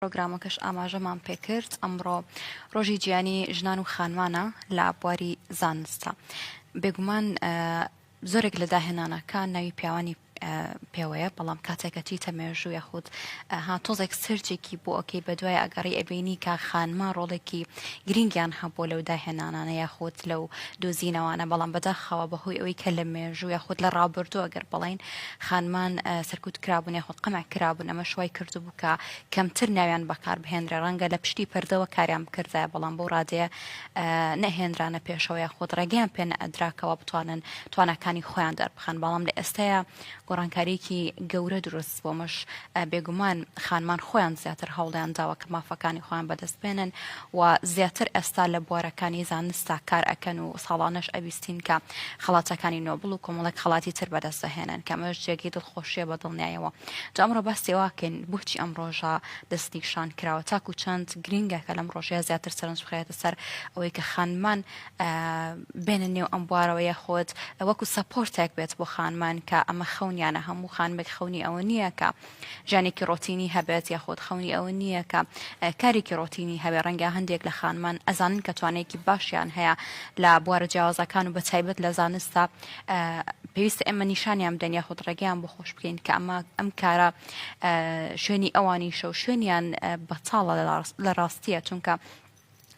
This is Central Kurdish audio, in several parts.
پرۆگرامەکەش ئاماژەمان پێکرد ئەمڕۆ ڕۆژی جیانی ژنان و خانمانە لە بواری زانستە بێگومان زۆرێک لە داهێنانەکان ناوی پیاوانی پێوەیە بەڵام کاتێکە چیتە مێژوو یاخود ها تۆزێک سرجێکی بۆ ئۆکەی بە دوای ئەگەڕی ئەبینی کا خانما ڕۆڵێکی گرنگیان هەبوو لەو داهێنانانە یاخود لەو دۆزینەوانە بەڵام بەداخەوە بەهۆی ئەوی کە لە مێژوو یاخود لە ڕابردوو ئەگەر بڵین خانمان سەرکوت کرابوون یاخود قەمە کرابوون ئەمە شوای کردو کە کەمتر ناویان بەکار بهێنرێ، ڕەنگە لە پشتی پەردەوە کاریان بکردایە، بەڵام بەو ڕادەیە نەهێنرانە پێشەوە یاخود ڕێگەیان پێ نەئەدرا کەوا بتوانن تواناکانی خۆیان دەربخەن، بەڵام لە ئێستایا گۆڕانکارییەکی گەورە دروست بووە، ئەمەش بێگومان خانمان خۆیان زیاتر هەوڵیان داوە کە مافەکانی خۆیان بەدەست بێنن و زیاتر ئێستا لە بوارەکانی زانستا کار ئەکەن و ساڵانەش ئەبیستین کە خەڵاتەکانی نۆبڵ و کۆمەڵێک خەڵاتی تر بەدەست دەهێنن کە ئەمەش جێگەی دڵخۆشییە بە دڵنیایەوە جا ئەمڕۆ باسی ئەوە ئەکەین بۆچی ئەم ڕۆژە دەستنیشان کراوە تاکو چەند گرینگە کە لەم ڕۆژەیە زیاتر سەرنج بخرێتە سەر ئەوەی کە خانمان بێنە نێو ئەم بوارەوە یاخۆت وەکو سەپۆرتێک بێت بۆ خانمان کە ئەمە خەونیانە هەموو خانمێک خەونی ئەوە نییە کە ژیانێکی ڕۆتینی هەبێت یاخۆت خەونی ئەوە نییە کە کارێکی ڕۆتینی هەبێ ڕەنگە هەندێک لە خانمان ئەزانن کە توانەیەکی باشیان هەیە لە بوارە جیاوازەکان و بە تایبەت لە زانستە پێویستە ئێمە نیشانیان بدەین یاخود ڕێگەیان بۆ خۆش بکەین کە ئەمە ئەم کارە شوێنی ئەوانی شەو شوێنیان بەتاڵە لە ڕاستیە چونکە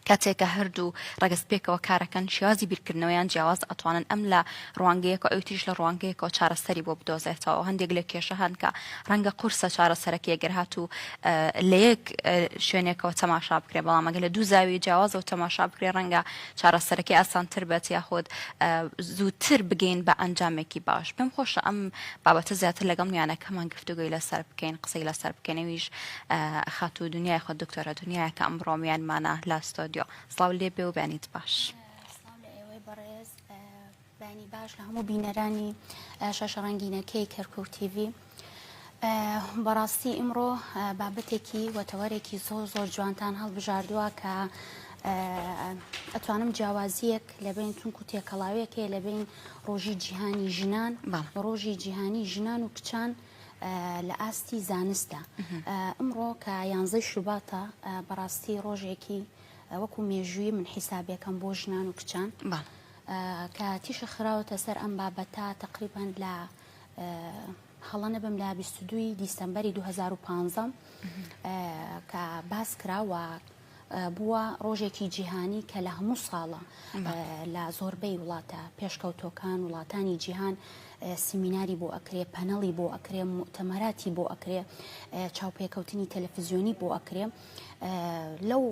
کاتێکە هەردوو ڕگەز پێکەوە کارەکەن شێوازی بیرکردنەوەیان جیاواز ئەتوانن ئەم لە ڕوانگەیەکە ئەو تریش لە ڕوانگەیەکەوە چارەسەری بۆ بدۆزێتەوە هەندێک لە کێشە هەنکە ڕەنگە قورسە چارەسەرەکە یەگەر هات و لە یەک شوێنێکەوە تەماشا بکرێ بەڵام ئەگە لە دوو زاوی جیاوازەوە تەماشا بکرێ ڕەنگە چارەسەرەکەی ئاسانتر بێت یاخود زووتر بگەین بە ئەنجامێکی باش پێم خۆشە ئەم بابەتە زیاتر لەگەڵ میانەکەمان گفتوگوی لەسەر بکەین قسەی لەسەر بکەنەویش خاتو دنیای خۆ دکتۆرە دنیای کە ئەمڕۆ میانمانە لە ستۆدیۆ سڵاو لێ بێ و بێنیت باش. بەیانی باش لە هەموو بینەرانی شاشە ڕەنگینەکەی کەرکوک تیڤی بەڕاستی ئیمڕۆ بابەتێکی وەتەوەرێکی زۆر زۆر جوانتان هەڵبژاردووە کە ئەتوانم جیاوازیەک لەبین چونکو تێکەڵاوێکێ لەبین ڕۆژی جیهانی ژنان ڕۆژی جیهانی ژنان و کچان لە ئاستی زانستە ئەمڕۆ کە یانزەی شوباتە بەڕاستی ڕۆژێکی وەکو مێژووی من حیسابەکەم بۆ ژنان و کچان کە تیشک خراوەتە سەر ئەم بابەتە تەقریبان لە هەڵە نەبم لە 22 دیسمبری 2015 کە باس کراوە بووە ڕۆژێکی جیهانی کە لە هەموو ساڵە لە زۆربەی وڵاتە پێشکەوتۆکان وڵاتانی جیهان سیمیناری بۆ ئەکرێ پەنەڵی بۆ ئەکرێ تەمەراتی بۆ ئەکرێ چاوپێکەوتنی تەلەفزیۆنی بۆ ئەکرێ لەو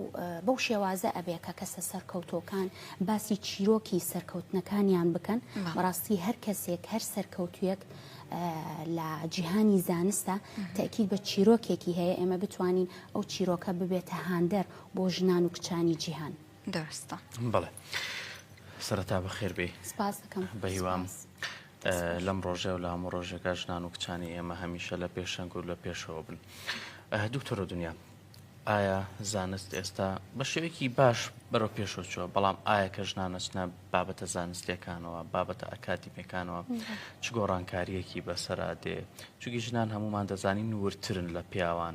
بەو شێوازە ئەبێ کە کەسە سەرکەوتۆکان باسی چیرۆکی سەرکەوتنەکانیان بکەن بەڕاستی هەر کەسێک هەر سەرکەوتویەک لە جیهانی زانستە تاکیید بە چیرۆکێکی هەیە ئێمە بتوانین ئەو چیرۆکە ببێتە هاندەر بۆ ژنان و کچانی جیهان. دەستە بڵێ سەرەتا بە خێربێ بەهیوام لەم ڕۆژێ و لە هەموو ڕۆژێکە ژنان و کچانی ئێمە هەمیشە لە پێشەنگ و لە پێشەوە بن دوکتۆرە دنیا ئایا زانست ئێستا بە شێوەیەکی باش بەرەو پێشەوە چووە بەڵام ئایا کە ژنانەچنە بابەتە زانستیەکانەوە بابەتە ئەکادیمیەکانەوە چ گۆڕانکاریەکی بەسەرا دێ چونکی ژنان هەمومان دەزانین نورترن لە پیاوان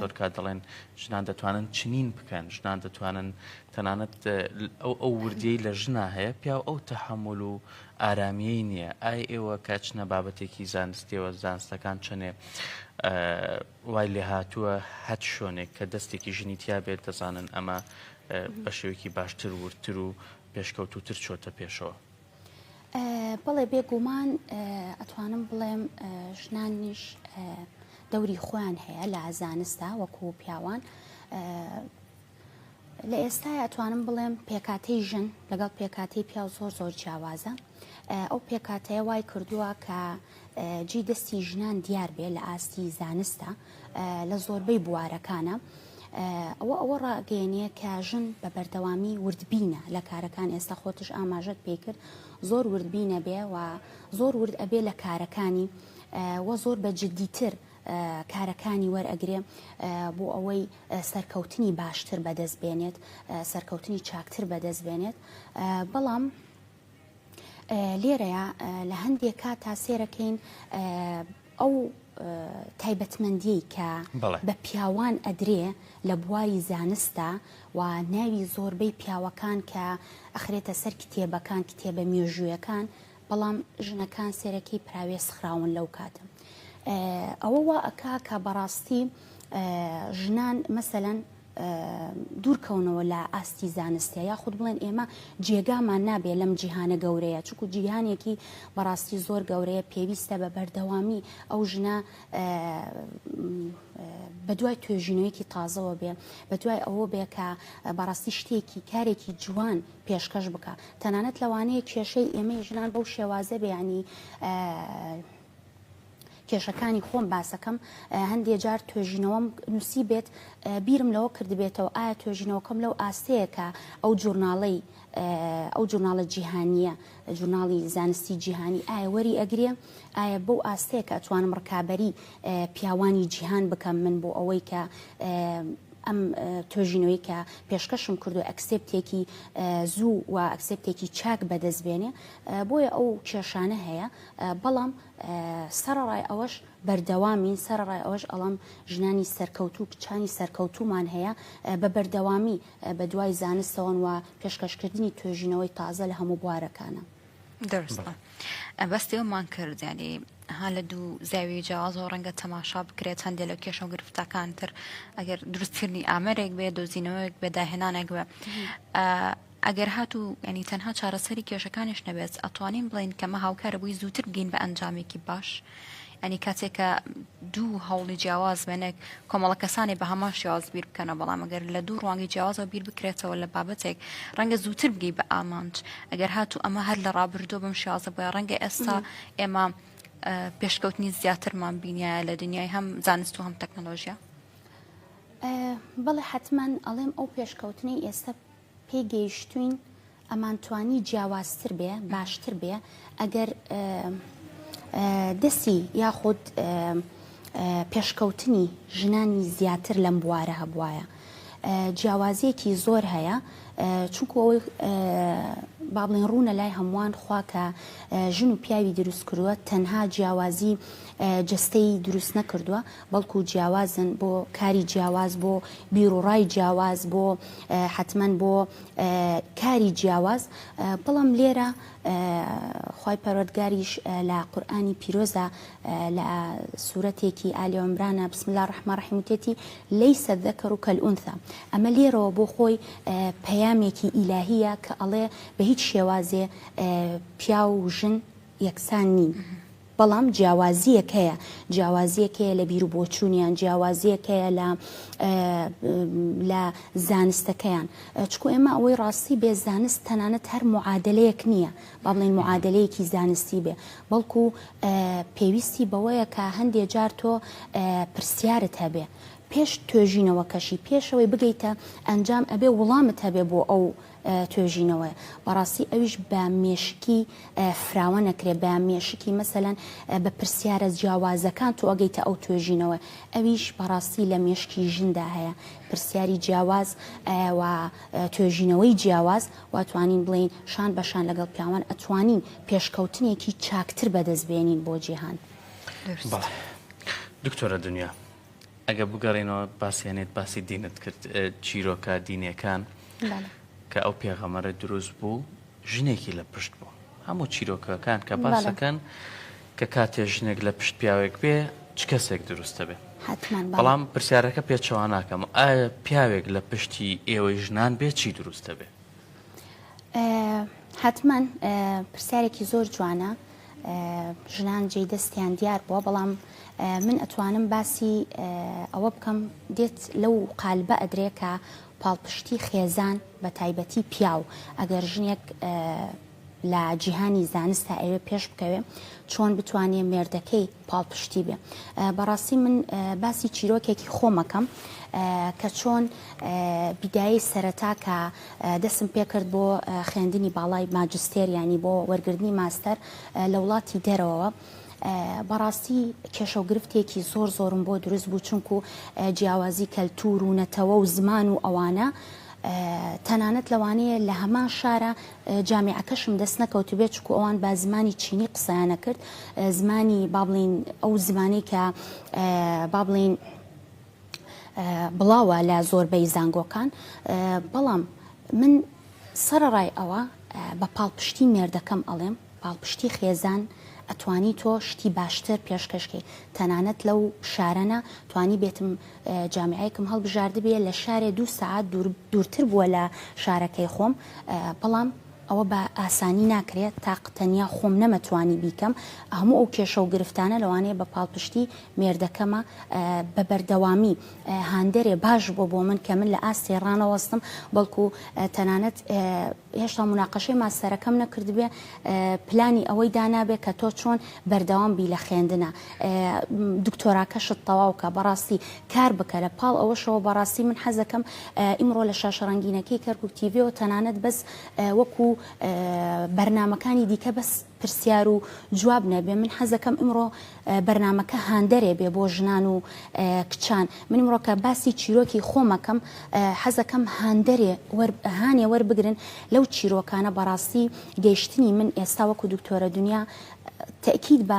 زۆر کات دەڵێن ژنان دەتوانن چنین بکەن ژنان دەتوانن تەنانەت ئەو ئەو وردی لە ژنا هەیە پیا ئەو تەحمل و ئارامیەی نییە ئای ئێوە کاچنە بابەتێکی زانستیەوە زانستەکان چەنێ وای لێ هاتووە هەت شوێنێک کە دەستێکی ژنی تیا بێت دەزانن ئەمە بە شێوێکی باشتر وردتر و پێشکەوتووتر چۆتە پێشەوە. بەڵێ بێ گومان ئەتوانم بڵێم ژنانیش دەوری خۆیان هەیە لە زانستا وەکو پیاوان لە ئێستای ئەتوانم بڵێم پێکاتی ژن لەگەڵ پێکاتی پیاو زۆر زۆر جیاوازە ئەو پێکهاتەیە وای کردووە کە جێی دەستی ژنان دیار بێ لە ئاستی زانستە لە زۆربەی بوارەکانە. ئەوە ئەوە ڕاگەێنە کە ژن بە بەردەوامی وردبینە لە کارەکان ئێستا خۆتش ئاماژەت پێ کرد زۆر وردبینە بێ و زۆر ورد ئەبێ لە کارەکانی وە زۆر بە جددیتر کارەکانی وەرئەگرێ بۆ ئەوەی سەرکەوتنی باشتر بەدەست بێنێت سەرکەوتنی چاکتر بەدەست بێنێت بەڵام لێرەیا لە هەندێک کاتا سێرەکەین ئەو تایبەتمەندی کە بە پیاوان ئەدرێ لە بواری زانستە و ناوی زۆربەی پیاوەکان کە ئەخرێتە سەر کتێبەکان کتێبە مێژوویەکان بەڵام ژنەکان سێرەکەی پراوێ سخراون لەو کاتە ئەوە وا ئەک کە بەڕاستی ژنان مەسەەن دوورکەونەوە لە ئاستی زانستە یاخود بڵێن ئێمە جێگامان نابێ لەم جیهانە گەورەیە چکو جیهانێکی بەڕاستی زۆر گەورەیە پێویستە بە بەردەوامی ئەو ژنە بە دوای توێژینەوەیەکی تازەوە بێ بە دوای ئەوە بێ کە بەڕاستی شتێکی کارێکی جوان پێشکەش بکە تەنانەت لەوانەیە کێشەی ئێمەی ژنان بەو شێوازە بێ ینی کێشەکانی خۆم باسەکەم هەندێ جار توێژینەوەم نووسی بێت بیرم لەوە کردبێتەوە ئایا توێژینەوەکەم لەو ئاستەیە کە ئەو جورناڵەی ئەو جورناڵە جیهانیە جورناڵی زانستی جیهانی ئایا وەری ئەگرێ ئایا بەو ئاستەیە کە ئەتوانم ڕکابەری پیاوانی جیهان بکەم من بۆ ئەوەی کە ئەم توێژینەوەی کە پێشکەشم کردو ئەکسپتێکی زوو و ئەکسپتێکی چاک بەدەستبێنێ بۆیە ئەو کێشانە هەیە بەڵام سەرەڕای ئەوەش بەردەوامین، سەرەڕای ئەوەش ئەڵێم ژنانی سەرکەوتوو و کچانی سەرکەوتوومان هەیە، بە بەردەوامی بەدوای زانستەوەن و پێشکەشکردنی توێژینەوەی تازە لە هەموو بوارەکانا. دروستە. باسی ئەوەمان کرد یانی ها لە دوو زاویەی جیاوازەوە ڕەنگە تەماشا بکرێت، هەندێ لە کێشە و گرفتەکان تر ئەگەر دروستکردنی ئامێرێک بێ، دۆزینەوەیەک بێ، داهێنانێک بێ، ئەگەر هاتوو یانی تەنها چارەسەری کێشەکانیش نەبێت ئەتوانین بڵێین کەمە هاوکارە بۆی زووتر بگەین بە ئەنجامێکی باش ئەنی کاتێک کە دوو هەوڵی جیاواز بێنێک کۆمەڵە کەسانی بە هەمان شێواز بیر بکەنە بەڵام ئەگەر لە دوو ڕوانگەی جیاوازەوە بیر بکرێتەوە لە بابەتێک ڕەنگە زووتر بگەی بە ئامانج ئەگەر هاتوو ئەمە هەر لە ڕابردوو بم شێوازە بۆە ڕەنگە ئێستا ئێمە پێشکەوتنی زیاترمان بینە لە دنیای هەم زانست و هەم تەکنەلۆژیا بەڵێ حتمما ئەڵێم ئەو پێشکەوتنی ئێستا پێی گەیشتووین ئەمان توانی جیاوازتر بێ باشتر بێ ئەگەر دەسی یاخود پێشکەوتنی ژنانی زیاتر لەم بوارە هەبواە جیاوازیەکی زۆر هەیە چونکو ئەوەی با بڵێن ڕوونە لای هەمووان خوا کە ژن و پیاوی دروست کردووە تەنها جیاوازی جستەی دروست نەکردووە بەڵکو جیاوازن بۆ کاری جیاواز بۆ بیروڕای جیاواز بۆ حەتمەن بۆ کاری جیاواز بەڵام لێرە خی پەرۆتگاریش لە قورآانی پیرۆزە لە سوورەتێکی ئالیۆمرانە بسم الله ڕحمە ڕحیموتێتی لی سەدەکەڕ و کەلئونسا ئەمە لێرەوە بۆ خۆی پەیامێکی ئیلاهیە کە ئەڵێ بە هیچ شێوازێ پیاو و ژن یەکسان نین. بەڵام جیاوازییەک هەیە، جیاوازییەک هەیە لە بیر و بۆچوونیان، جیاوازییەک هەیە لە لە زانستەکەیان، چکو ئێمە ئەوەی ڕاستی بێ زانست تەنانەت هەر معادەلەیەک نییە، با بڵێین معادەلەیەکی زانستی بێ، بەڵکو پێویستی بەوەیە کە هەندێ جار تۆ پرسیارت هەبێ، پێش توێژینەوەکەشی، پێشەوەی بگەیتە ئەنجام ئەبێ وڵامت هەبێ بۆ ئەو. توێژینەوەیە بەڕاستی ئەویش بە مێشکی فراوە نەکرێ بە مێشکی مەسەلەن بە پرسیارە جیاوازەکان تۆ ئەگەیتە ئەو توێژینەوە ئەویش بەڕاستی لە مێشکی ژندا هەیە پرسیاری جیاواز و توێژینەوەی جیاواز واتوانین بڵین شان بەشان لەگەڵ پیاوان ئەتوانین پێشکەوتنێکی چاکتر بەدەست بێنین بۆ جیهان دکتۆرە دنیا ئەگەر بگەڕێینەوە باسی هەنێت باسی دینت کرد چیرۆکە دینیەکان کە ئەو پێغەمەرە دروست بوو ژنێکی لە پشت بوو هەموو چیرۆکەکان کە باسەکەن کە کاتێ ژنێک لە پشت پیاوێک بێ چ کەسێک دروستە بێ بەڵام پرسیارەکە پێچەوانناکەم ئایا پیاوێک لە پشتی ئێوەی ژنان بێ چی دروستە بێ حەتمەن پرسیارێکی زۆر جوانە ژنان جێی دەستیان دیار بووە بەڵام من ئەتوانم باسی ئەوە بکەم دێت لەو قالبە ئەدرێ کە پاڵپشتی خێزان بە تایبەتی پیاو ئەگەر ژنێک لە جیهانی زانستا ئەیەوێ پێش بکەوێ چۆن بتوانێ مێردەکەی پاڵپشتی بێ بەڕاستی من باسی چیرۆکێکی خۆمەکەم کە چۆن بیدایی سەرەتا کە دەسم پێکرد بۆ خوێندنی باڵای ماجستێریانی بۆ وەرگرتنی ماستەر لە وڵاتی دەرەوە. بەڕاستی کێشە و گرفتێکی زۆر زۆرم بۆ دروست بوو چونکو جیاوازی کەلتور و نەتەوە و زمان و ئەوانە تەنانەت لەوانەیە لە هەمان شارە جامیعەکەشم دەست نەکەوتبێت چونکو ئەوان بە زمانی چینی قسەیان ئەکرد زمانی با بڵێین ئەو زمانەی کە با بڵێین بڵاوە لە زۆربەی زانگۆکان بەڵام من سەرەڕای ئەوە بە پاڵپشتی مێردەکەم ئەڵێم پاڵپشتی خێزان ئەتوانی تۆ شتی باشتر پێشکەش کەی تەنانەت لەو شارەنا توانی بێتم جامیعەیەکم هەڵبژاردبێ لە شارێ دوو سەعات دوورتر بووە لە شارەکەی خۆم بەڵام ئەوە بە ئاسانی ناکرێت تاق تەنیا خۆم نەمە توانی بیکەم هەموو ئەو کێشە و گرفتانە لەوانەیە بە پاڵپشتی مێردەکەمە بە بەردەوامی هاندەرێ باش بۆ بۆ من کە من لە ئاستێ ڕانەوەستم بەڵکو تەنانەت هێشتا موناقەشەی ماستەرەکەم نەکردبێ پلانی ئەوەی دانابێ کە تۆ چۆن بەردەوام بی لە خوێندنا دکتۆراکەشت تەواو کە بەڕاستی کار بکە لە پاڵ ئەوەشەوە بەڕاستی من حەزەکەم ئیمڕۆ لە شاشە ڕەنگینەکەی کەرکوک تیڤیەوە تەنانەت بەس وەکو بەرنامەکانی دیکە بەس پرسیار و جواب نەبێ من حەزەکەم ئمڕۆ بەرنامەکە هاندەرێ بێ بۆ ژنان و کچان من مڕۆکە باسی چیرۆکی خۆمەکەم حەزەکەم هاندەرێ هاانێ وەربگرن لەو چیرۆکانە بەڕاستی گەیشتنی من ئێستا وەکو دکتۆرە دنیا تەکیید بە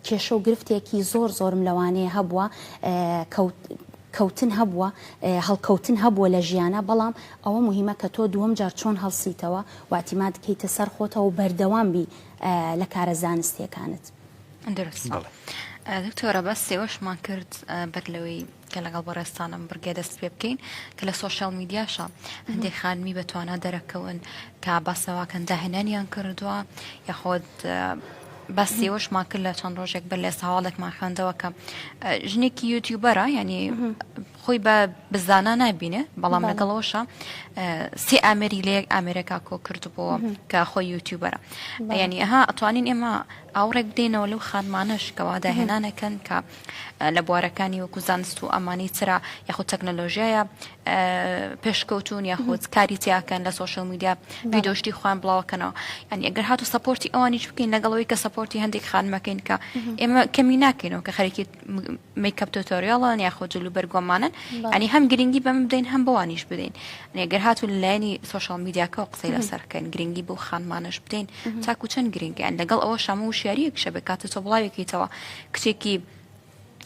کێشە و گرفتێکی زۆر زۆرم لەوانەیە هەبووە کەوت کەوتن هەبووە هەڵکەوتن هەبووە لە ژیانا بەڵام ئەوە مهمە کە تۆ دووەم جار چۆن هەڵسیتەوە واتیماد کەیتە سەر خۆتەوە و بەردەوام بی لە کارە زانستیەکانت. دروست دکتۆرە بەس سێوەشمان کرد بەر لەوەی. کە لەگەڵ بەڕێزتانم بڕگێ دەست پێ بکەین کە لە سۆشیال میدیاشە هەندێک خانمی بە توانا دەرەکەون کە باسەواکەن داهێنانیان کردووە یاخۆت بەس ئێوەشمان کرد لە چەند ڕۆژێک بەر لێ ساواڵێکمان خوێندەوە کە ژنێکی یوتیوبەرە ینی خۆی بە بزانە نبینێ بەڵام لەگەڵەوەشە سێ ئامری لەیەک ئامرێکا کۆ کردبووە کە خۆی یوتیوبەرە ینی ئەها ئەتوانین ئێمە ئاوڕێک بدەینەوە لەو خانمانەش کەوا داهێنانەکەن کە لە بوارەکانی وەکو زانست و ئەمانی چرا یاخود تەکنەلۆژیایە پێشکەوتون یاخود کاری تیاکەن لە سوۆشل میدیا ویدۆشتی خوان بڵاوکەنەوە ینی ئەگەر هاتو سپۆرتی ئەوانیش بکەین لەگەڵەوەی کە سپۆرتی هەندێک خانمەکەین کە ئێمە کەمی ناکەینەوە کە خەرکی میکەپ تۆتۆریاڵان یاخود جلو بەرگۆمانن ئەنی هەم گرنگی بەم بدەین هەم بەوانیش بدەین ئەگەر هاتو لایەنی سوۆشال میدیاکەەوە قسەی لەسەرکەن گرنگی بۆ خانمانش بدەین تاکو چەند گرنگیان لەگەڵ ئەوە شەمە و شاریەک شەبکاتە تۆ بڵاوێکیتەوە کچێکی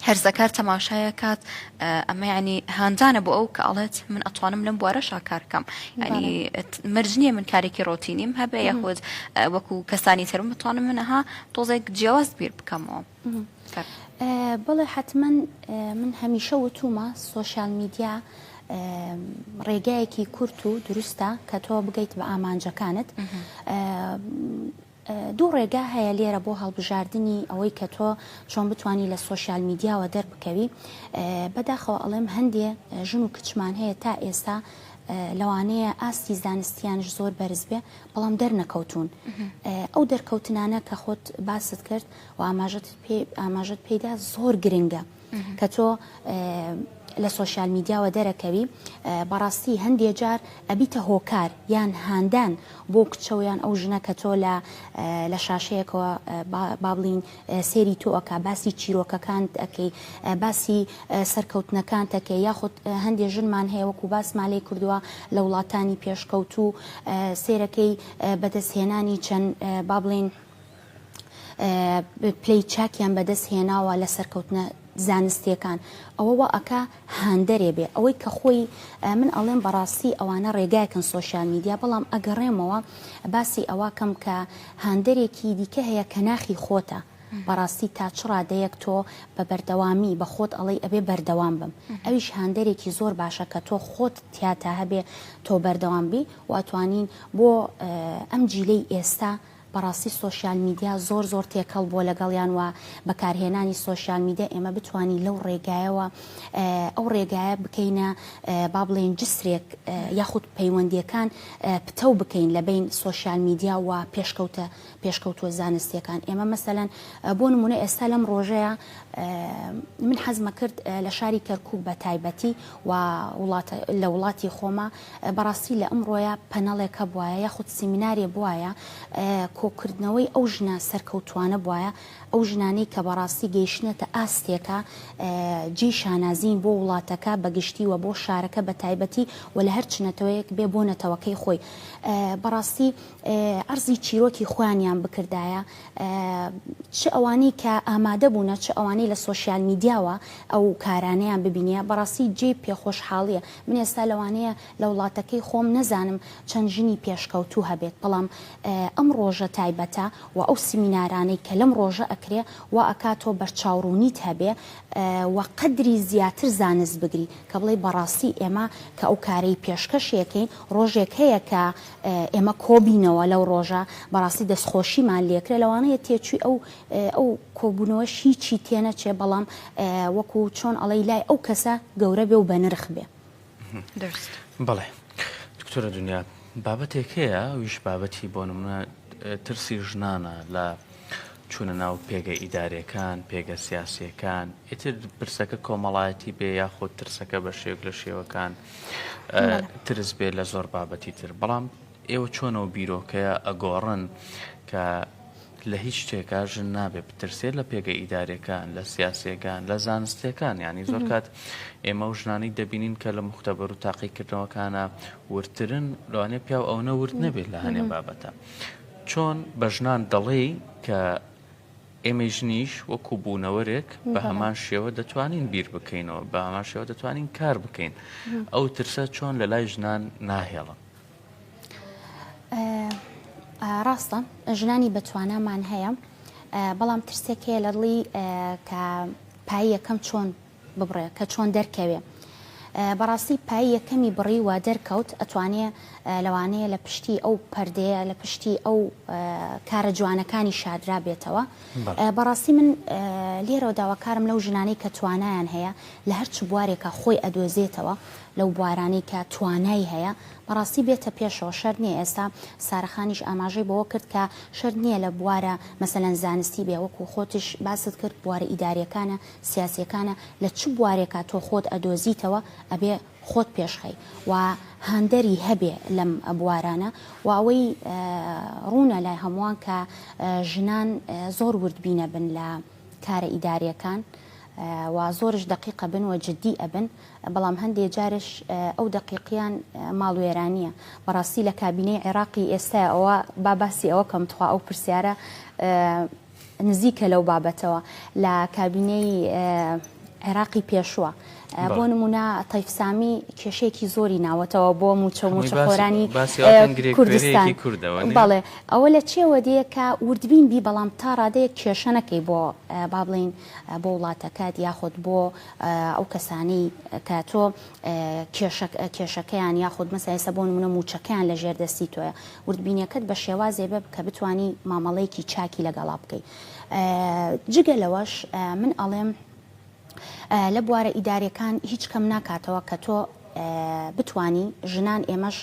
هەرزەکار تەماشای ئەکات ئەمە یعنی هاندانە بۆ ئەو کە ئەڵێت من ئەتوانم لەم بوارە شاکارکەم ینی مەرج نییە من کارێکی ڕۆتینیم هەبێ یاخود وەکو کەسانی ترم بتوانم منەها تۆزێک جیاواز بیر بکەمەوە. بڵێ حتمما من هەمیشە وتومە سوۆسیال میدیا ڕێگایەکی کورت و دروستە کە تۆ بگەیت بە ئامانجەکانت دوو ڕێگا هەیە لێرە بۆ هەڵبژاردنی ئەوەی کە تۆ چۆن بتوانی لە سۆشیال میدیاوە دەربکەوی بەداخەوە ئەڵێم هەندێ ژن و کچمان هەیە تا ئێستا لەوانەیە ئاستی زانستیانش زۆر بەرز بێ بەڵام دەرنەکەوتون ئەو دەرکەوتنانە کە خۆت باست کرد و ئاماژت پێ ئاماژت پێدا زۆر گرنگە. کە تۆ لە سۆشیال میدیاوە دەرەکەوی بەڕاستی هەندێ جار ئەبیتە هۆکار یان هاندان بۆ کچەوە یان ئەو ژنە کە تۆ لە لە شاشەیەکەوە بابلین سێری تۆ ئەک باسی چیرۆکەکان ئەەکەی باسی سەرکەوتنەکان تەکە یاخود هەندێ ژنمان هەیە وەکو باس مالێ کردووە لە وڵاتانی پێشکەوتوو سێرەکەی بەدەستهێنانی چەند بابلین پلەی چاکیان بەدەست هێناوە لە سەرکەوتنە زانستیەکان ئەوە وا ئەکا هاندەرێ بێ ئەوەی کە خۆی من ئەڵێم بەڕاستی ئەوانە ڕێگایکن سۆشیال میدیا بەڵام ئەگەڕێمەوە باسی ئەوە کەم کە هاندەرێکی دیکە هەیە کە ناخی خۆتە بەڕاستی تا چ ڕادەیەک تۆ بە بەردەوامی بە خۆت ئەڵەی ئەبێ بەردەوام بم ئەویش هاندەرێکی زۆر باشە کە تۆ خۆت تیاتا هەبێ تۆ بەردەوام بی واتوانین بۆ ئەم جیلەی ئێستا بەڕاستی سۆشیال میدیا زۆر زۆر تێکەڵ بووە لەگەڵیان و بەکارهێنانی سۆشیال میدیا ئێمە بتوانین لەو ڕێگایەوە ئەو ڕێگایە بکەینە با بڵێین جسرێک یاخود پەیوەندیەکان پتەو بکەین لە بین سۆشیال میدیا و پێشکەوتە پێشکەوتووە زانستیەکان ئێمە مەسەلەن بۆ نمونە ئێستا لەم ڕۆژەیە من حەزمە کرد لە شاری کەرکک بە تایبەتی و وڵاتە لە وڵاتی خۆمە بەڕاستی لە ئەمڕۆیە پەنەڵێکە بوایە یاخود سیمینارێ بوایە کۆکردنەوەی ئەو ژنە سەرکەوتوانە بوایە ئەو ژنانەی کە بەڕاستی گەیشتنەتە ئاستێکە جێی شانازین بۆ وڵاتەکە بەگشتی و بۆ شارەکە بە تایبەتی و لە هەر چنەتەوەیەک بێ بۆ نەتەوەکەی خۆی بەڕاستی ئەرزی چیرۆکی خۆیانیان بکردایە چ ئەوانەی کە ئامادە بوونە چ ئەوانەی لە سۆسیال میدیاوە ئەو کارانەیان ببینە بەڕاستی جێی پێخۆشحاڵیە من ئێستا لەوانەیە لە وڵاتەکەی خۆم نەزانم چەند ژنی پێشکەوتوو هەبێت بەڵام ئەم ڕۆژە تایبەتە و ئەو سیمینارانەی کە لەم ڕۆژە ئەکرێ وا ئەکا تۆ بەرچاوڕوونیت هەبێ و قەدری زیاتر زانست بگری کە بڵێی بەڕاستی ئێمە کە ئەو کارەی پێشکەشی ئەکەین ڕۆژێک هەیە کە ئێمە کۆبینەوە لەو ڕۆژە بەڕاستی دەستخۆشیمان لێکرێ لەوانەیە تێچووی ئەو ئەو کۆبونەوەش هیچی تێنەچێ بەڵام وەکو چۆن ئەڵێی لای ئەو کەسە گەورە بێ و بەنرخ بێ. بەڵێ دکتۆرە دنیا بابەتێک هەیە ویش بابەتی بۆ نمونە ترسی ژنانە لە چوونە ناو پێگە ئیدارەکان پێگە سیاسیەکان ئیتر پرسەکە کۆمەڵایەتی بێ یاخود ترسەکە بە شێوک لە شێوەکان ترس بێ لە زۆر بابەتی تر بەڵام ئێوە چۆن ئەو بیرۆکەیە ئەگۆڕن کە لە هیچ شتێکا ژن نابێ بترسێ لە پێگە ئیداریەکان لە سیاسیەکان لە زانستیەکان یعنی زۆر کات ئێمە و ژنانی دەبینین کە لە مختبەر و تاقیکردنەوەکانە وردترن لەوانێ پیاو ئەو نەورد نەبێت لە هەنێ بابەتە چۆن بە ژنان دەڵێی کە ئێمە ژنیش وەکو بوونەوەرێک بە هەمان شێوە دەتوانین بیر بکەینەوە بە هەمان شێوە دەتوانین کار بکەین ئەو ترسە چۆن لە لای ژنان ناهێڵن ڕاستە ژنانی بەتوانامان هەیە بەڵام ترسێک هەیە لە دڵی کە پای یەکەم چۆن ببڕێ کە چۆن دەرکەوێ بەڕاستی پای یەکەمی بڕی و دەرکەوت ئەتوانێ لەوانەیە لە پشتی ئەو پەردەیە لە پشتی ئەو کارە جوانەکانی شادرا بێتەوە بەڕاستی من لێرەوە داواکارم لەو ژنانەی کە توانایان هەیە لە هەرچ بوارێکە خۆی ئەدۆزێتەوە لەو بوارانەی کە توانای هەیە بەڕاستی بێتە پێشەوە، شەرت نییە ئێستا سارە خانیش ئاماژەی بەوە کرد کە شەرت نییە لە بوارە مەسەلەن زانستی بێ وەکو خۆتش باست کرد بوارە ئیداریەکانە سیاسیەکانە لە چ بوارێکا تۆ خۆت ئەدۆزیتەوە ئەبێ خۆت پێشخەی و هاندەری هەبێ لەم بوارانە و ئەوەی ڕوونە لای هەمووان کە ژنان زۆر وردبینە بن لە کارە ئیداریەکان و زۆرش دەقیقە بن و جدی ئەبن بەڵام هەندێ جارش ئەو دەقیقیان ماڵ وێرانیە بەڕاستی لە کابینەی عێراقی ئێستا ئەوە با باسی ئەوە کەم تخوا ئەو پرسیارە نزیکە لەو بابەتەوە لە کابینەی عێراقی پێشوە بۆ نمونە تەیف سامی کێشەیەکی زۆری ناوەتەوە بۆ موچە و موچە خۆرانی کوردستان بەڵێ ئەوە لە چێوە دێ کە وردبین بی بەڵام تا ڕادەیە کێشە نەکەی بۆ با بڵین بۆ وڵاتەکەت یاخود بۆ ئەو کەسانی کە تۆ کێشەکەیان یاخود مەسایسە بۆ نمونە موچەکەیان لە ژێر دەستی تۆە وردبینەکەت بە شێوازێ بە کە بتانی مامەڵەیەکی چاکی لەگەڵا بکەیت جگە لەوەش من ئەڵێم لە بوارە ئیداریەکان هیچ کەم ناکاتەوە کە تۆ بتوانی ژنان ئێمەش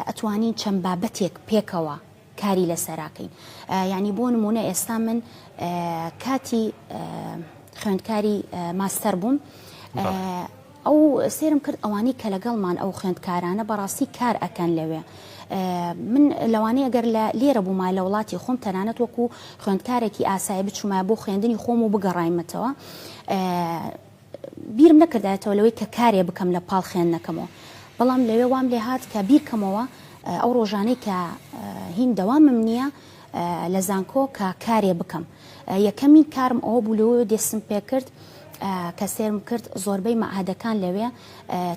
ئەتوانین چەند بابەتێک پێکەوە کاری لەسەراکەین یعنی بۆ نمونە ئێستا من کاتی خوێندکاری ماستەر بووم ئەو سێرم کرد ئەوانەی کە لەگەڵمان ئەو خوێندکارانە بەڕاستی کار ئەکەن لەوێ من لەوانەیە گەر لە لێرە بوومە لە وڵاتی خۆم تەنانەت وەکو خوێندکارێکی ئاسایی بچوومە بۆ خوێندنی خۆم و بگەڕایمەتەوە بیرم نەکردایەتەوە لەوەی کە کارێ بکەم لە پاڵ خوێندنەکەمەوە بەڵام لەوێ وام لێ هات کە بیرکەمەوە ئەو ڕۆژانەی کە هین دەوامم نییە لە زانکۆ کە کارێ بکەم یەکەمین کارم ئەوە بوو لەوەوە دێستم پێکرد کە سێرم کرد زۆربەی مەعادەکان لەوێ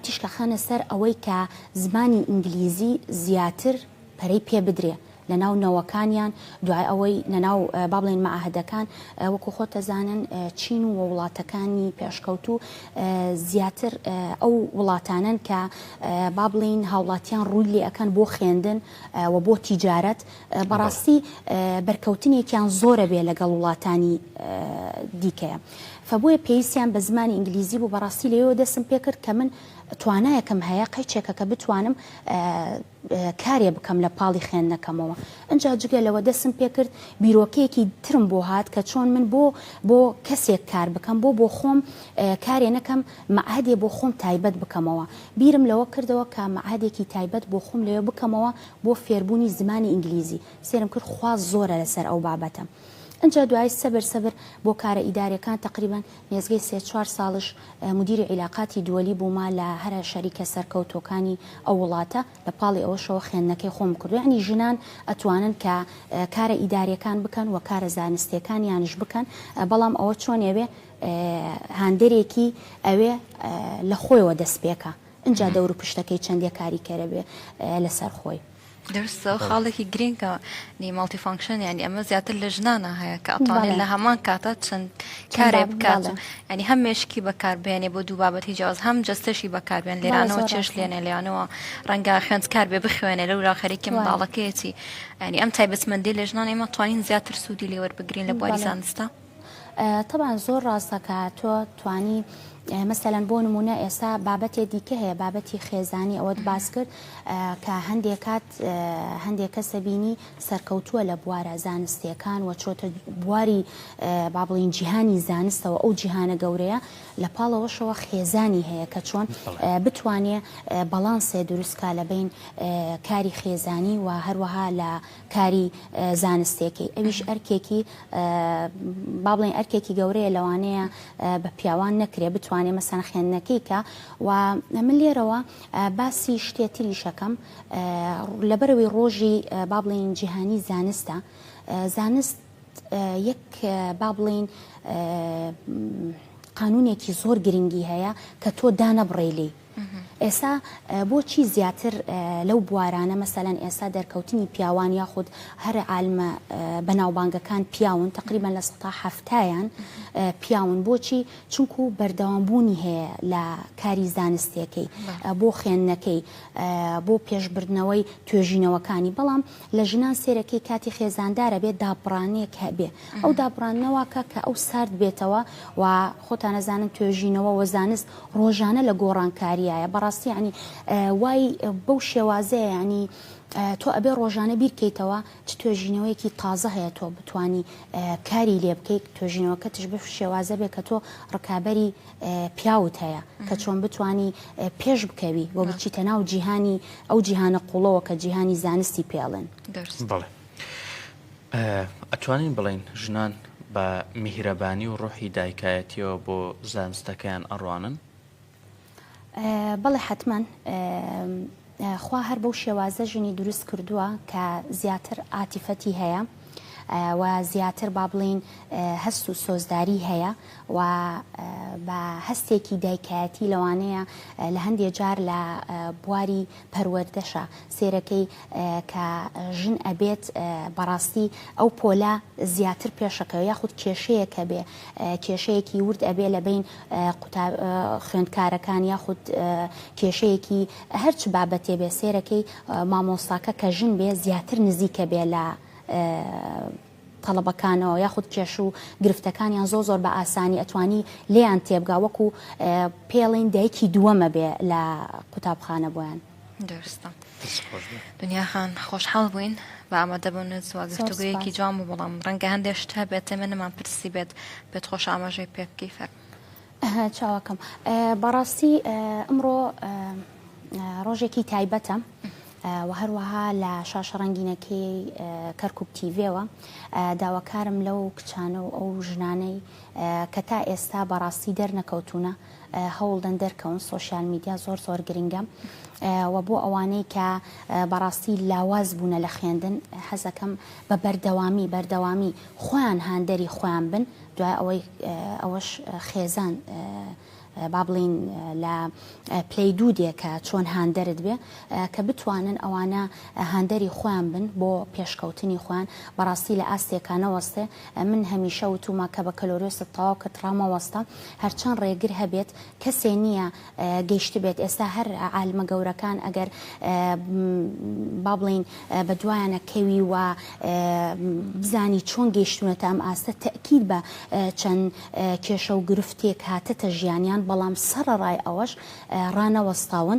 تیشکە خەنە سەر ئەوەی کە زمانی ئینگلیزی زیاتر پەرەی پێ بدرێ لەناو نەوەکانیان دوای ئەوەی لەناو بابلین مەعاهدەکان وەکو خۆتەزانن چین و وڵاتەکانی پێشکەوتو زیاتر ئەو وڵاتانن کە بابلین هاوڵاتیان ڕووی لێ ئەەکەن بۆ خوێندن و بۆ تیجارەت بەڕاستی بەرکەوتنێکیان زۆرە بێ لەگەڵ وڵاتانی دیکەیە فبۆیە پێویستیان بە زمانی ئینگلیزی بوو بەڕاستی لەوێ دەسم پێکرد کە من توانایەکم هەیە قەیچێکە کە بتوانم کارێ بکەم لە پاڵی خوێندنەکەمەوە ئەجا جگە لەوە دەسم پێکرد بیرۆکەیەکی ترم بۆ هات کە چۆن من بۆ بۆ کەسێک کار بکەم بۆ بۆ خۆم کارێ نەکەم معهدێ بۆ خۆم تایبەت بکەمەوە بیرم لەوە کردەوە کە معهدێکی تایبەت بۆ خۆم لەوێ بکەمەوە بۆ فێربوونی زمانی ئینگلیزی سێرم کرد خوا زۆرە لەسەر ئەو بابەتە ئنجا دوای سەبر سەبر بۆ کارە ئیداریەکان تەقریبەن نێزگەی سێ چوار ساڵش مدیری عیلاقاتی دوەلی بوومە لە هەرە شەریکە سەرکەوتوەکانی ئەو وڵاتە لە پاڵی ئەوەشەوە خوێندنەکەی خۆم کردو یانی ژنان ئەتوانن کە کارە ئیداریەکان بکەن وە کارە زانستیەکانیانش بکەن بەڵام ئەوە چۆن ئەوێ هاندەرێکی ئەوێ لە خۆیەوە دەست پێکا ئینجا دەورو پشتەکەی چەندە کاریکەرە بێ لەسەر خۆی. دروستە خاڵێکی گرینگە نی ماڵتی فانکشن ینی ئەمە زیاتر لە ژنانە هەیە کە ئەتوانێت لە هەمان کاتە چەند کارێ بکات ینی هەم مێشکی بەکاربیێنێ بۆ دوو بابەتی جیاز هەم جستەشی بەکاربیێن لێرانەوە چێش لێنێ لەیانەوە ڕەنگە خوێنند کار بێ بخوێنێ لە ورا خەرێکی منداڵەکەیەتی ینی ئەم تایبەتمەندی لە ژنان ئێمە توانین زیاتر سوودی لێوەربگرین لە بواری زانستە. تەبعەن زۆر ڕاستە کە تۆ توانی مەسەلەن بۆ نمونە ئێستا بابەتێ دیکە هەیە بابەتی خێزانی ئەوەت باس کرد کە هەندێک کات هەندێک کەسە بینی سەرکەوتووە لە بوارە زانستیەکان وە چۆتە بواری با بڵین جیهانی زانستەوە ئەو جیهانە گەورەیە لە پاڵەوەشەوە خێزانی هەیە کە چۆن بتوانێ بەڵانسێ دروستکە لە بین کاری خێزانی و هەروەها لە کاری زانستێکەی ئەویش ئەرکێکی با بڵێین ئەرکێکی گەورەیە لەوانەیە بە پیاوان نەکرێ بتوانێ مەسەن خوێندنەکەی کە و من لێرەوە باسی شتێ تریشەکەم لەبەرەوەی ڕۆژی با بڵێین جیهانی زانستە زانست یەک با بڵێین قانونێکی زۆر گرنگی هەیە کە تۆ دانەبڕێ لێی ئێستا بۆچی زیاتر لەو بوارانە مەسەلەن ئێستا دەرکەوتنی پیاوان یاخود هەر عالمە بەناوبانگەکان پیاون تەقریبەن لە سەتا حەفتایان پیاون بۆچی چونکو بەردەوام بوونی هەیە لە کاری زانستیەکەی بۆ خوێندنەکەی بۆ پێشبردنەوەی توێژینەوەکانی بەڵام لە ژنان سێرەکەی کاتی خێزاندارە بێ دابڕانێک هەبێ ئەو دابڕانەوەکە کە ئەو سارد بێتەوە و خۆتانەزانن توێژینەوە وە زانست ڕۆژانە لە گۆڕانکاریایە بەڕاستی ینی وای بەو شێوازەیە ینی تۆ ئەبێ ڕۆژانە بیرکەیتەوە چ توێژینەوەیەکی تازە هەیە تۆ بتانی کاری لێ بکەیت توێژینەوەکە تش بف شێوازە بێ کە تۆ ڕکابەری پیاوت هەیە کە چۆن بتانی پێش بکەوی و بچیتە ناو جیهانی ئەو جیهانە قوڵەوە کە جیهانی زانستی پێڵێن بڵێ ئەتوانین بڵین ژنان بە میهرەبانی و ڕۆحی دایکایەتیەوە بۆ زانستەکەیان ئەڕوانن بەڵێ حتمما خوا هەر بەو شێوازە ژنی دروست کردووە کە زیاتر عاتیفەتی هەیە و زیاتر با بڵێین هەست و سۆزداری هەیە و بە هەستێکی دایکایەتی لەوانەیە لە هەندێ جار لە بواری پەروەردەشە سێرەکەی کە ژن ئەبێت بەڕاستی ئەو پۆلە زیاتر پێشەکەوە یاخود کێشەیە کە بێ کێشەیەکی ورد ئەبێ لە بین قوتا خوێندکارەکان یاخود کێشەیەکی هەر چ بابەتێ بێ سێرەکەی مامۆستاکە کە ژن بێ زیاتر نزیکە بێ لە تەڵەبەکانەوە یاخود کێش و گرفتەکانیان زۆ زۆر بە ئاسانی ئەتوانی لێیان تێبگا وەکو پێڵین دایکی دووەمە بێ لە قوتابخانە بۆیان. دەستە دنیاخان خۆشحاڵ بووین بە ئامادە بۆ نزوە گفتوگویەکی جوان بوو بەڵام ڕەنگە هەندێک شت هەبێت ئێمە نەمان پرسی بێت بێت خۆش ئاماژەی پێ بکەی فەرموو چاوەکەم بەڕاستی ئەمڕۆ ڕۆژێکی تایبەتە و هەروەها لە شاشە ڕەنگینەکەی کەرکک تیڤێەوە داواکارم لەو کچانە و ئەو ژنانەی کە تا ئێستا بەڕاستی دەرنەکەوتونە هەوڵدەن دەرکەون سوۆسیال میدیا زۆر زۆر گرنگە و بۆ ئەوانەی کە بەڕاستی لاواز بوونە لە خوێندن حەزەکەم بە بەردەوامی بەردەوامی خۆیان هاندەری خۆیان بن دوای ئەوەی ئەوەش خێزان با بڵێین لە پلەی دوو دێ کە چۆن هاندەرت بێ کە بتوانن ئەوانە هاندەری خۆیان بن بۆ پێشکەوتنی خۆیان بەڕاستی لە ئاستێکە نەوەستێ من هەمیشە وتومە کە بە کەلۆرۆست تەواو کە تڕامەوەستە هەرچەند ڕێگر هەبێت کەسێ نییە گەیشتبێت ئێستا هەر عالمە گەورەکان ئەگەر با بڵێین بە دوایانە کەوی و بزانی چۆن گەیشتونەتە ئەم ئاستە تەئکید بە چەند کێشە و گرفتێک هاتەتە ژیانیان بەڵام سەڕەڕای ئەوەش ڕانەوەستاون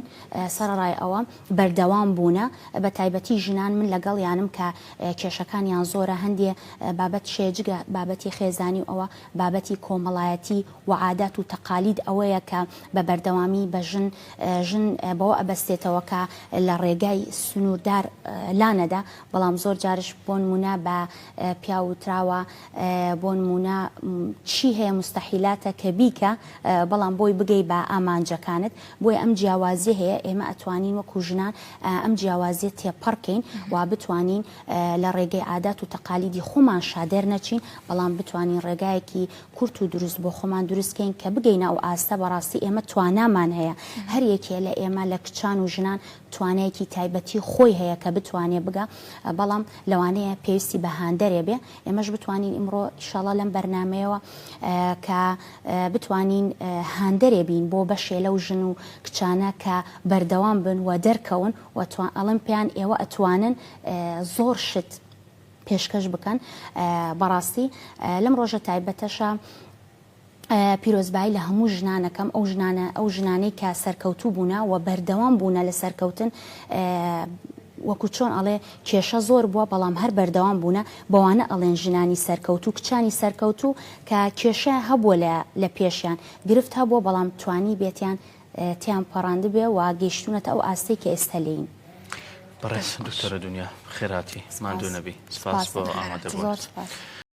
سەڕەڕای ئەوە بەردەوام بوونە بە تایبەتی ژنان من لەگەڵیانم کە کێشەکانیان زۆرە هەندێ بابەت شێ جگە بابەتی خێزانی و ئەوە بابەتی کۆمەڵایەتی و عادات و تەقالید ئەوەیە کە بە بەردەوامی بە ژن ژن بەوە ئەبەستێتەوە کە لە ڕێگای سنووردار لانەدا بەڵام زۆر جارش بۆ نموونە بە پیاو وتراوە بۆ نموونە چی هەیە موستەحیلاتە کە بیکە بەڵام بۆی بگەی بە ئامانجەکانت بۆیە ئەم جیاوازیە هەیە ئێمە ئەتوانین وەکو ژنان ئەم جیاوازیە تێپەڕکەین و بتوانین لە ڕێگەی عادات و تەقالیدی خۆمان شادێر نەچین بەڵام بتوانین ڕێگایەکی کورت و دروست بۆ خۆمان دروست کەین کە بگەینە ئەو ئاستە بەڕاستی ئێمە توانامان هەیە هەر یەکێ لە ئێمە لە کچان و ژنان توانایەکی تایبەتی خۆی هەیە کە بتوانێ بگا بەڵام لەوانەیە پێویستی بە هاندەرێ بێ ئێمەش بتوانین ئیمڕۆ ئیشاڵا لەم بەرنمەیەوە کە بتوانین هاندەرێ بین بۆ بەشێ لەو ژن و کچانە کە بەردەوام بن و دەرکەون و ئەڵم پێیان ئێوە ئەتوانن زۆر شت پێشکەش بکەن بەڕاستی لەم ڕۆژە تایبەتەشا پیرۆزبایی لە هەموو ژنانەکەم ئەو ژنانە ئەو ژنانەی کە سەرکەوتوو بوونە و بەردەوام بوونە لە سەرکەوتن وەکو چۆن ئەڵێ کێشە زۆر بووە بەڵام هەر بەردەوام بوونە بەوانە ئەڵێن ژنانی سەرکەوت و کچانی سەرکەوت و کە کێشە هەبووە لە لە پێشیان گرفت هەبووە بەڵام توانی بێتیان تێیان پەڕاندبێ و گەیشتوونەتە ئەو ئاستەی کە ئێستا لێین. بەڕێز دکتۆرە دونیا بەخێرهاتی، ماندوو نەبی، سپاس بۆ ئامادەبوونت.